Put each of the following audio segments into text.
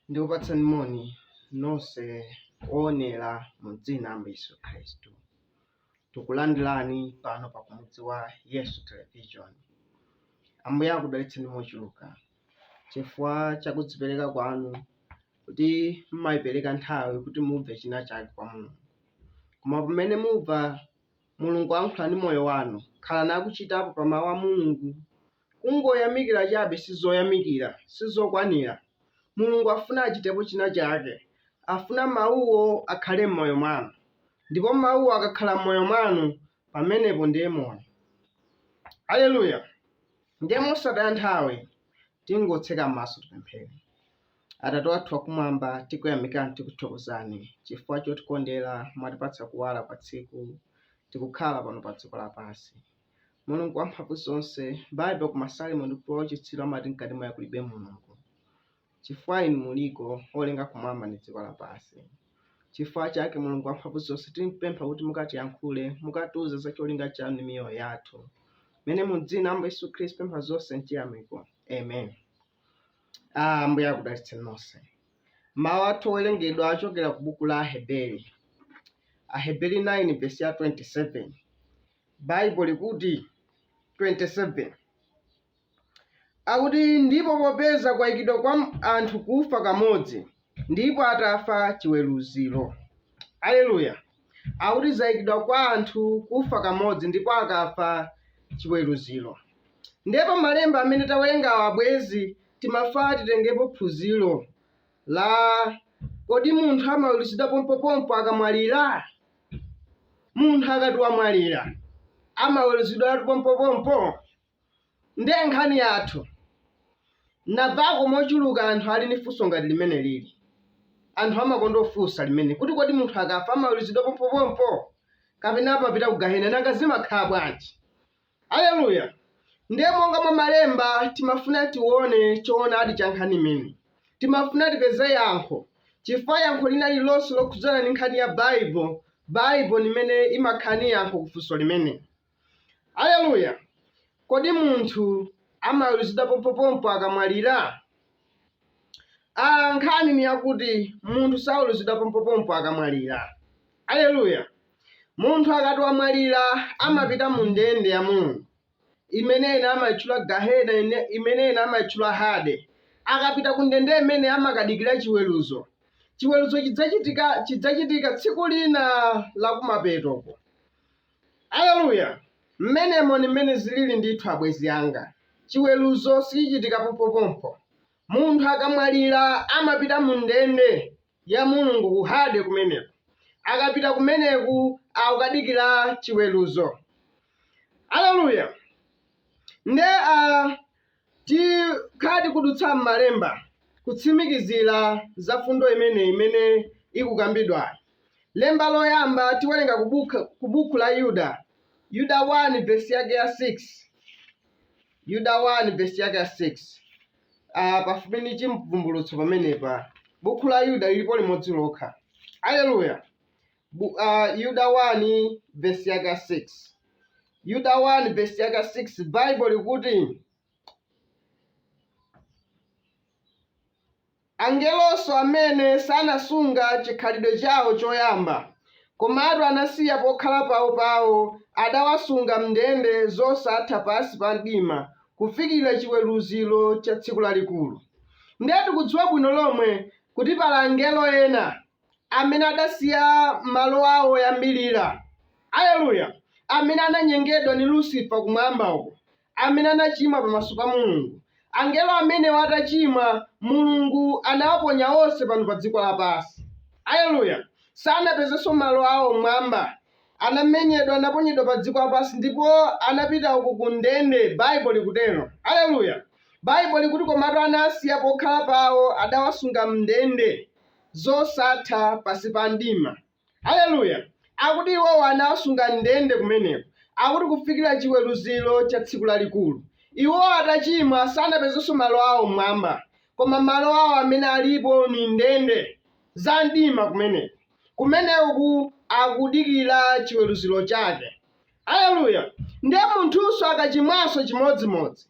ndikupatsani moni nonse oonera mu dzina la Ambuye Yesu Khristu. Tikulandirani pano pa kumudzi wa Yesu Television. Ambuye akudalitseni mochuluka chifukwa cha kudzipereka kwanu kuti mmayipereka nthawi kuti mumve china chake kwa Mulungu. Koma pamene mumva Mulungu ayankhula ndi moyo wanu, khalani akuchitapo pa Mawu a Mulungu. Kungoyamikira chabe sizoyamikira, sizokwanira. Mulungu afuna achitepo china chake. Afuna Mawuwo akhale m'moyo mwanu. Ndipo Mawuwo akakhala m'moyo mwanu, pamenepo ndiye moyo. Aleluya! Ndiye mosataya nthawi tingotseka maso tipemphere. Atate wathu wakumwamba, tikuyamikani, tikuthokozani chifukwa chotikondera, mwatipatsa kuwala kwa tsiku, tikukhala pano pa dziko lapansi. Mulungu wamphamvu zonse, Baibulo ku Masalimo ndi ochitsiru amati mkati mwawo kulibe Mulungu, chifukwa inu muliko olenga kumwamba ndi dziko lapansi. Chifukwa chake Mulungu wamphamvu zonse, tipempha kuti mukatiyankhule, mukatiuze za cholinga chanu ndi miyoyo yathu, mene mu dzina la Ambuye Yesu Khristu pempha zonse mchiyamiko, amen. Ah, Ambuye akudalitseni nonse. Mawu athu owerengedwa achokera ku buku la Aheberi. Aheberi 9 vesi ya 27. Baibulo likuti 27. Akuti ndipo popeza kwayikidwa kwa anthu kufa kamodzi, Ndipo atafa chiweruziro. Aleluya! Akuti zayikidwa kwa anthu kufa kamodzi ndipo akafa chiweruziro. Ndiye pa malemba amene tawerengawa abwenzi timafuna titengepo phunziro la kodi munthu amaweruzidwa pompopompo akamwalira? Munthu akati wamwalira amaweruzidwatu pompopompo? Ndiye nkhani yathu. Navako mochuluka anthu ali ni funso ngati limenelili. Anthu amakonda kufunsa limene kuti kodi munthu akafa amaweruzidwa pompopompo? Kapena amapita ku gahena? Nanga zimakhala bwanji? Aleluya! Ndiye monga mwa malemba timafuna tione choonadi cha nkhani imene. Timafuna tipeze yankho, chifukwa yankho lina lililonse lokhudzana ni nkhani ya Baibo, Baibo ni imene imakhala ni yankho ku funso limene. Aleluya! Kodi munthu amaweruzidwa pompopompo akamwalira? a Nkhani ni yakuti munthu saweruzidwa pompopompo akamwalira. Aleluya! Munthu akati wamwalira amapita mu ndende ya Mulungu, imene ena amaichula Gahena, imene ena amaichula Hade. Akapita ku ndende imene amakadikira chiweruzo. Chiweruzo chidzachitika chidzachitika tsiku lina la kumapetoko. Aleluya! Mmenemo ndi mmene ziriri ndithu, abwenzi anga. Chiweruzo sichichitika pompopompo. Munthu akamwalira amapita mu ndende ya Mulungu ku hade kumeneko, akapita kumeneko akukadikirira chiweruzo. Aleluya! Nde a, Tikhala tikudutsa m'Malemba kutsimikizira za fundo imeneyi imene ikukambidwayi. Lemba loyamba tiwelenga ku buku la Yuda, Yuda 1 vesi yake ya 6. Yuda 1 vesi yake ya 6, pafupi ndi Chimvumbulutso pamenepa. Buku la Yuda lilipo limodzi lokha. Aleluya! Bu- ah, Yuda 1 vesi yake 6 Yuda 1 vesi yake 6 baibo likuti angelonso amene sanasunga chikhalidwe chawo choyamba komatu anasiya pokhala pawo pawo adawasunga mndende zosatha pansi pa mdima kufikira chiweruziro cha tsiku lalikulu ndiye tikudziwa bwino lomwe kuti pali angelo ena amene adasiya malo awo oyambirira, aleluya, amene ananyengedwa ndi Lusifa kumwamba uko, amene anachimwa pamaso pa Mulungu. Angelo amenewo atachimwa, Mulungu anawaponya onse pano pa dziko lapansi, aleluya, sanapezenso malo awo mmwamba, anamenyedwa, anaponyedwa pa dziko lapansi ndipo anapita uko ku ndende, Baibulo likutero, aleluya. Baibulo likuti, Komatu anasiya pokhala pawo, adawasunga m'ndende. zosatha pansi pa mdima. Aleluya! Akuti iwowa anawasunga m'ndende kumeneko, akuti kufikira chiweruziro cha tsiku lalikulu. Iwo atachimwa sanapezenso malo awo m'mwamba, koma malo awo amene alipo ni ndende za mdima kumeneko, kumeneku akudikira chiweruziro chake. Aleluya! Ndiye munthunso akachimwanso chimodzimodzi.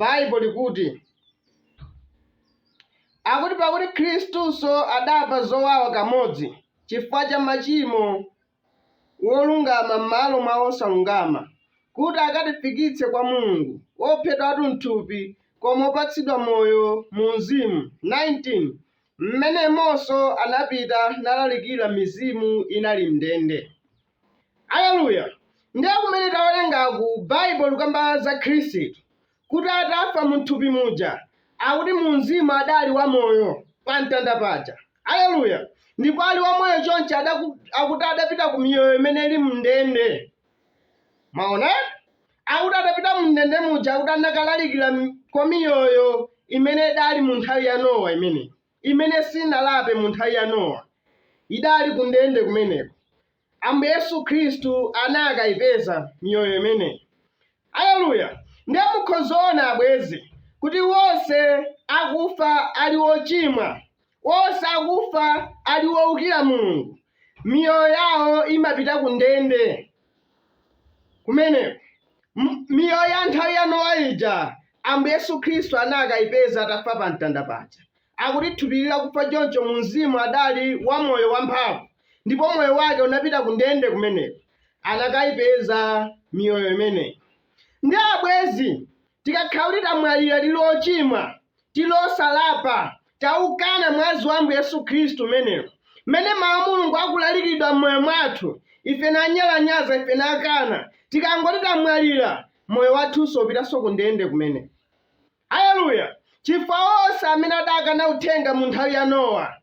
Bible likuti akuti pakuti Khristunso adamva zowawa kamodzi chifukwa cha machimo wolungama m'malo mwa wosalungama kuti akatifikitse kwa Mulungu, wophedwatu m'thupi, koma wopatsidwa moyo mu mzimu, 19 m'menemonso anapita nalalikira mizimu inali m'ndende. Aleluya! Ndiye kumene tawerengaku Bible likukamba za Khristu kuti atafa mu thupi muja akuti mu mzimu adali wa moyo pa mtanda paja. Aleluya! Ndipo ali wamoyo chonchi adaku, akuti adapita ku miyoyo imene ili mndende. Mwaona? Akuti adapita mu mndende muja akuti anakalalikira m- kwa miyoyo imene idali mu nthawi ya Nowa imeneyi. imene siinalape mu nthawi ya Nowa, idali ku ndende kumeneko. Ambuye Yesu Khristu anakaipeza miyoyo imeneyi. Aleluya! Ndiye mukhoza ona, abwenzi, kuti onse akufa ali ochimwa, onse akufa ali owukira Mulungu, miyoyo yawo imapita ku ndende. Kumeneko, miyoyo ya nthawi ya Nowa ija, Ambuye Yesu Khristu anakayipeza atafa pa mtanda paja. Akuti thupi lakufa choncho mu mzimu adali wa moyo wamphamvu, ndipo moyo wake unapita ku ndende kumeneko. Anakayipeza miyoyo imeneyi. Ndiye abwenzi, Tikakhala kuti tamwalira tili ochimwa, tili osalapa, taukana mwazi wa Ambuye Yesu Khristu umenewu, m'mene Mau a Mulungu akulalikidwa m'moyo mwathu, ife nanyalanyaza, ife nakana, tikangoti tamwalira, moyo wathunso upitanso ku ndende kumene. Aleluya! Chifukwa onse amene adakana uthenga mu nthawi ya Nowa,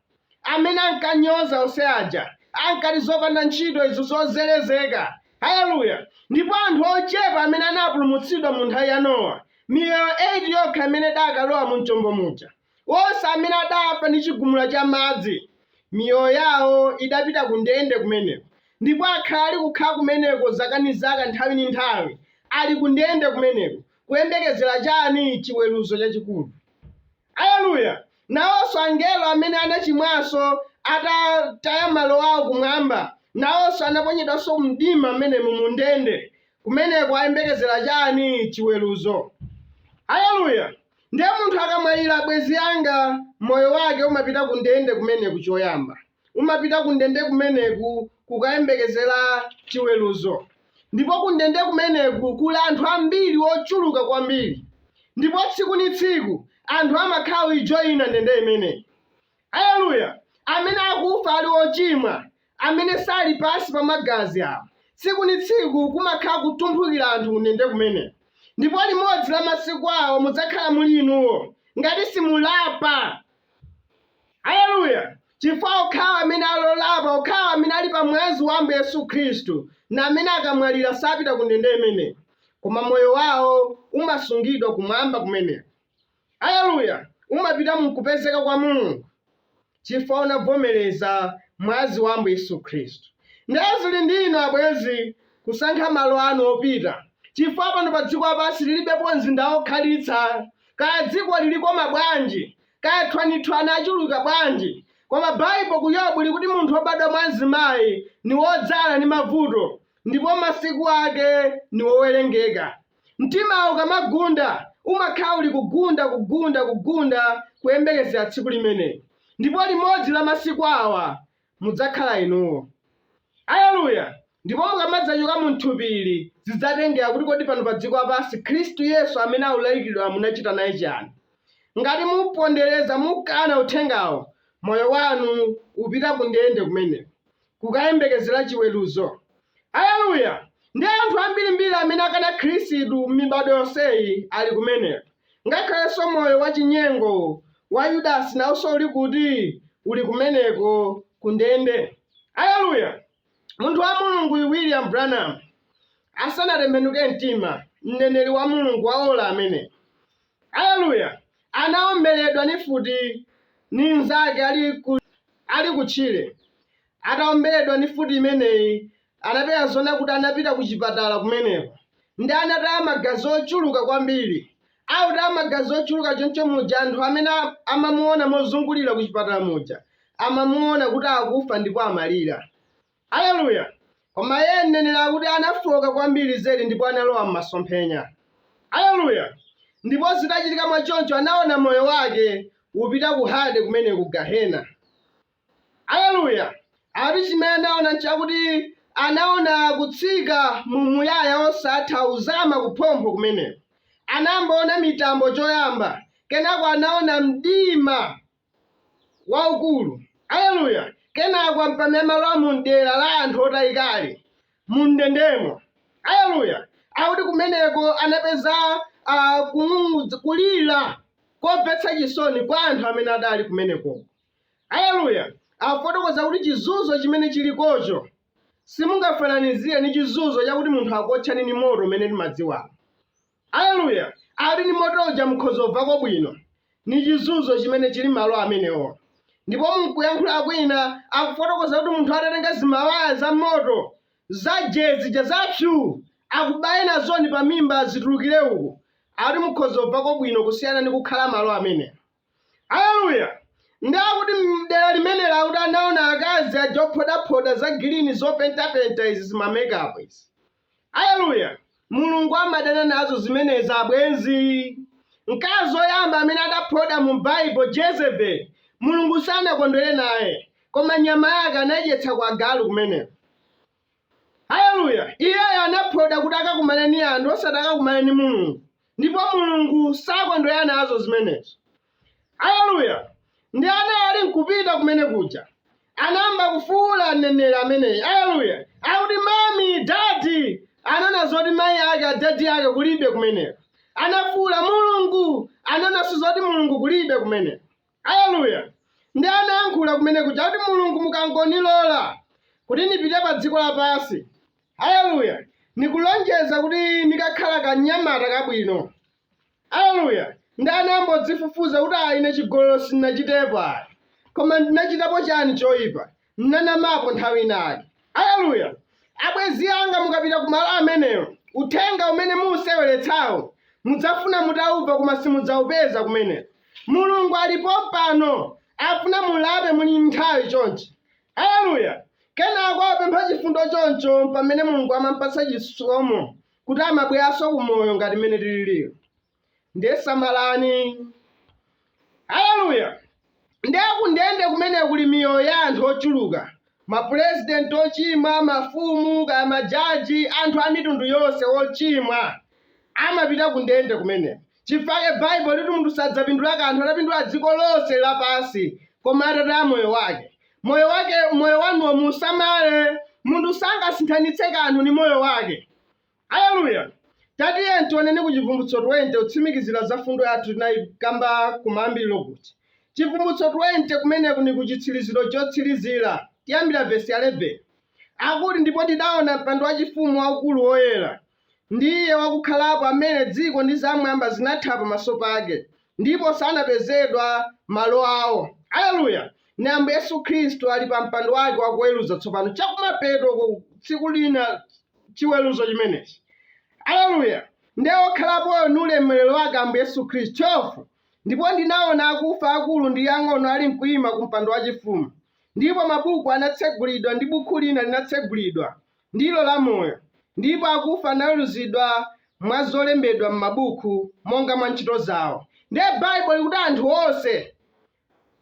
amene ankanyoza onse aja, ankati zopanda ntchito izo zozerezeka. Aleluya! Ndipo anthu ochepa amene anapulumutsidwa mu nthawi ya Nowa, miyoyo 8 yokha imene idakalowa mu chombo muja, onse amene adafa ndi chigumula cha madzi, miyoyo yawo idapita ku ndende kumeneko, ndipo akhala ali kukhala kumeneko zaka ndi zaka, nthawi ndi nthawi, ali ku ndende kumeneko, kuyembekezera chani? Chiweruzo chachikulu. Aleluya! Nawonso angelo amene anachimwanso atataya malo awo kumwamba, nawonso anaponyedwanso mumdima mmenemo, mu ndende kumeneko, ayembekezera chani? Chiweruzo. Aleluya! Ndiye munthu akamwalira, abwenzi anga, moyo wake umapita ku ndende kumeneko, choyamba. Umapita kundende kumeneku kukayembekezera chiweruzo. Ndipo kundende kumeneku kuli anthu ambiri ochuluka kwambiri. Ndipo tsiku ni tsiku anthu amakhala kuijoina ndende imeneyi. Aleluya! Amene akufa ali ochimwa, amene sali pansi pa Magazi awo. Tsiku ni tsiku kumakhala kutumphukira anthu kundende kumeneku. Ndipo limodzi la masiku awa mudzakhala muli inuwo, ngati simulapa! Aleluya! Chifukwa okhawa amene ali olapa, okhawa amene ali pa Mwazi wa Ambuye Yesu Khristu, ndi amene akamwalira sapita ku ndende imeneyi, koma moyo wawo umasungidwa kumwamba kumeneko, aleluya, umapita mu nkupezeka kwa Mulungu, chifukwa unavomereza Mwazi wa Ambuye Yesu Khristu. Ndiye ziri ndi inu, abwenzi, kusankha malo anu opita, chifukwa pano pa dziko lapansi liribepo mzinda wokhalitsa, kaya dziko lilikoma bwanji, Kaya thwanithwani achuluka bwanji, koma Baibo ku Yobu likuti munthu wobadwa mwa mzimayi ni wodzala ni mavuto, ndipo masiku ake ni owelengeka. Mtimawo ukamagunda, umakhala uli kugunda, kugunda, kugunda, kuyembekezela tsiku limenelo. Ndipo limodzi la masiku awa mudzakhala inuwo. Aleluya! Ndipo mukamadzachoka mu mthupi ili, zidzatengera kuti kodi pano pa dziko lapansi Khristu Yesu amene aulalikiridwa munachita naye chiani. Ngati mupondereza, mukana Uthengawo, moyo wanu upita ku ndende kumeneko, kukayembekezera chiweruzo. Aleluya! Ndi anthu ambirimbiri amene akana Khristu mmibadwo yonseyi ali kumeneko. Ngakhalenso moyo wachinyengo wa Yudasi nawonso uli kuti? Uli kumeneko, ku ndende. Aleluya! Munthu wa Mulungu uyu, William Branham, asanatembenuke mtima, mneneri wa Mulungu wa ola ameneyo, aleluya, anawombeledwa ni mfuti ni mzake ali ku, ali ku tchire, Ataomberedwa ndi mfuti imeneyi, anapeza zoona kuti anapita kuchipatala kumeneko ndi anataya magazi ochuluka kwambiri. Autaya magazi ochuluka choncho muja, anthu amene amamuona mozungulira kuchipatala muja amamuona kuti akufa ndipo amalira. Aleluya! Koma iye mneneri akuti anafooka kwambiri zedi ndipo analowa m'masomphenya. Aleluya! Ndipo zitachitika mwachoncho anaona moyo wake upita ku Hade kumene ku Gahena. Aleluya! Ati chimene anaona nchakuti anaona kutsika mu umuyaya wosatha kuzama kuphompho kumeneko. Anamboona mitambo choyamba, kenako anaona mdima waukulu. Aleluya! Kenako mpamene amalowa mu mdera la anthu otayikali, mu ndendemo. Aleluya! Akuti kumeneko anapeza a, kung'ung'udza, kulira komvetsa chisoni kwa anthu amene adali kumenekoko. Aleluya! Afotokoza kuti chizunzo chimene chilikocho simungafananizire ndi chizunzo chakuti munthu akuotchani ndi moto umene timadziwawo. Aleluya! Akuti ndi moto uja mukhoza kumvako bwino. Ni chizunzo chimene chili malo amenewo. Ndipo mukuyankhula kwina akufotokoza kuti munthu atatenga zimawaya za moto za jee zija za pyuu akubaye nazoni pa mimba zitulukire uku, akuti mukhoza kumvako bwino kusiyana ndi kukhala malo amenewo. Aleluya! Ndi akuti mdera limenelo akuti anaona akazi aja ophodaphoda za gilini zopentapenta izi zima makeup izi. Aleluya! Mulungu amadana nazo zimenezi abwenzi. Mkazi woyamba amene adaphoda mu Baibo Jezebeli, Mulungu sanakondwere naye, koma nyama yake anadyetsa kwa agalu kumeneko. Haleluya! Iyeyo anaphonda kuti akakumane ndi anthu osati akakumane ndi Mulungu, ndipo Mulungu sakondwera nazo zimenezo. Haleluya! Nde ana ali nkupita kumene kuja, anayamba kufuula mneneri ameneyi, haleluya, akuti, Mami, Dadi! Anaona zoti mayi ake, adadi ake kulibe kumeneko. Anafuula, Mulungu! Anaonanso zoti Mulungu kulibe kumeneko. Aleluya! Nde anayankhula kumene kuja, kuti, Mulungu, mukangonilola kuti nipite pa dziko lapansi, aleluya, nikulonjeza kuti nikakhala kanyamata kabwino. Aleluya! Nde anayambodzifufuza kuti, Ayi, ine chigololo sinachitepo ayi, koma ndinachitapo chani choipa? N'nanamapo nthawi inayake. Aleluya! Abwenzi anga, mukapita ku malo amenewo, uthenga umene muuseweletsawo mudzafuna mutauva koma simudzaupeza kumeneko. Mulungu ali pompano, afuna mulape muli ni nthawi chonchi. Aleluya! Kenako apempha chifundo choncho pamene Mulungu amampatsa chisomo kuti amabwelanso ku moyo ngati mmene tililimu. nde samalani haleluya nde kundende kumeneko kuli miyoyo ya anthu ochuluka mapurezidenti ochimwa mafumu kaya majaji anthu a mitundu yonse ochimwa amapita kundende kumeneko chifake baibulo likuti munthu sadzapindula kanthu atapindula dziko lonse lapansi koma atataya moyo wake moyo wake moyo wanuwo musamale munthu sangasinthanitse kanthu ni moyo wake Aleluya! Tatiyeni tioneni ku Chivumbutso 20 kutsimikizira za fundo yathu tinayikamba kumayambiliro kuja. Chivumbutso 20 kumeneku ni kuchitsiliziro chotsirizira, tiyambira vesi 11. Akuti, Ndipo ndidawona mpando wachifumu waukulu woyera, ndi Iye wakukhalapo amene dziko ndi zam'mwamba zinathawa pamaso pake, ndipo sanapezedwa malo awo. Aleluya! Ni Ambuye Yesu Khristu ali pa mpando wake wakuweruza tsopano chakumapeto uko tsiku lina, chiweruzo chimenechi. Aleluya! Nde okhalapoyo ni ulemerero wake Ambuye Yesu Khristu, 12 ndipo ndinaona akufa akulu ndi ang'ono alimkuima ku mpando wachifumu, ndipo mabuku anatsegulidwa, ndi bukhu lina linatsegulidwa, ndilo la moyo, ndipo akufa anaweruzidwa mwa zolembedwa m'mabuku, monga mwa ntchito zawo. Ndiye Baibulo likuti anthu onse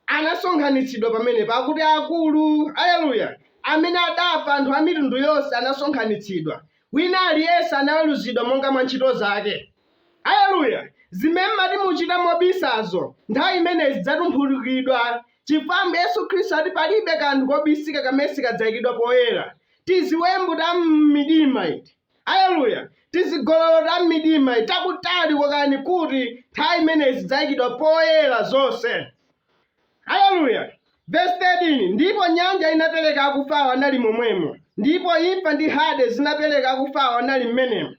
anasonkhanitsidwa pamenepo, akuti, Akulu, aleluya, amene adafa anthu a mitundu yonse anasonkhanitsidwa, wina aliyense anaweruzidwa monga mwa ntchito zake. Aleluya! Zimene mmati muchita mobisazo, nthawi imeneyo zidzatumphulukidwa, chifukwa Ambuye Yesu Khristu ati palibe kanthu kobisika kamene sikadzaikidwa poyera. Tiziwembu ta mmidima iti! Aleluya! Tizigololo ta mmidima takutali kokani kuti nthawi imeneyi zidzaikidwa poyera zonse. Aleluya! Vesi 13, Ndipo nyanja inapereka akufawo anali momwemo, ndipo imfa ndi Hade zinapereka akufawo anali mmenemo.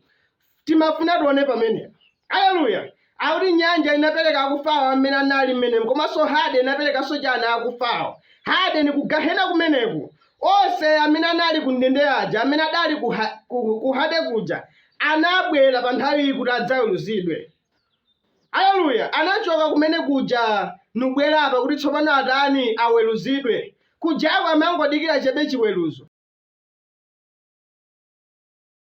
Timafuna tione pamenepo. Aleluya! Akuti nyanja inapereka akufawo amene anali mmenemo, komanso Hade inaperekanso chani akufawo. Hade ni kugahena kumeneko. Onse amene anali ku ndende aja, amene adali ku Hade kuja, anabwera pa nthawi kuti adzaweruzidwe. Aleluya! Anachoka kumene kuja nubwera apa kuti tsopano atani aweruzidwe. Kujako amangodikira chabe chiweruzo.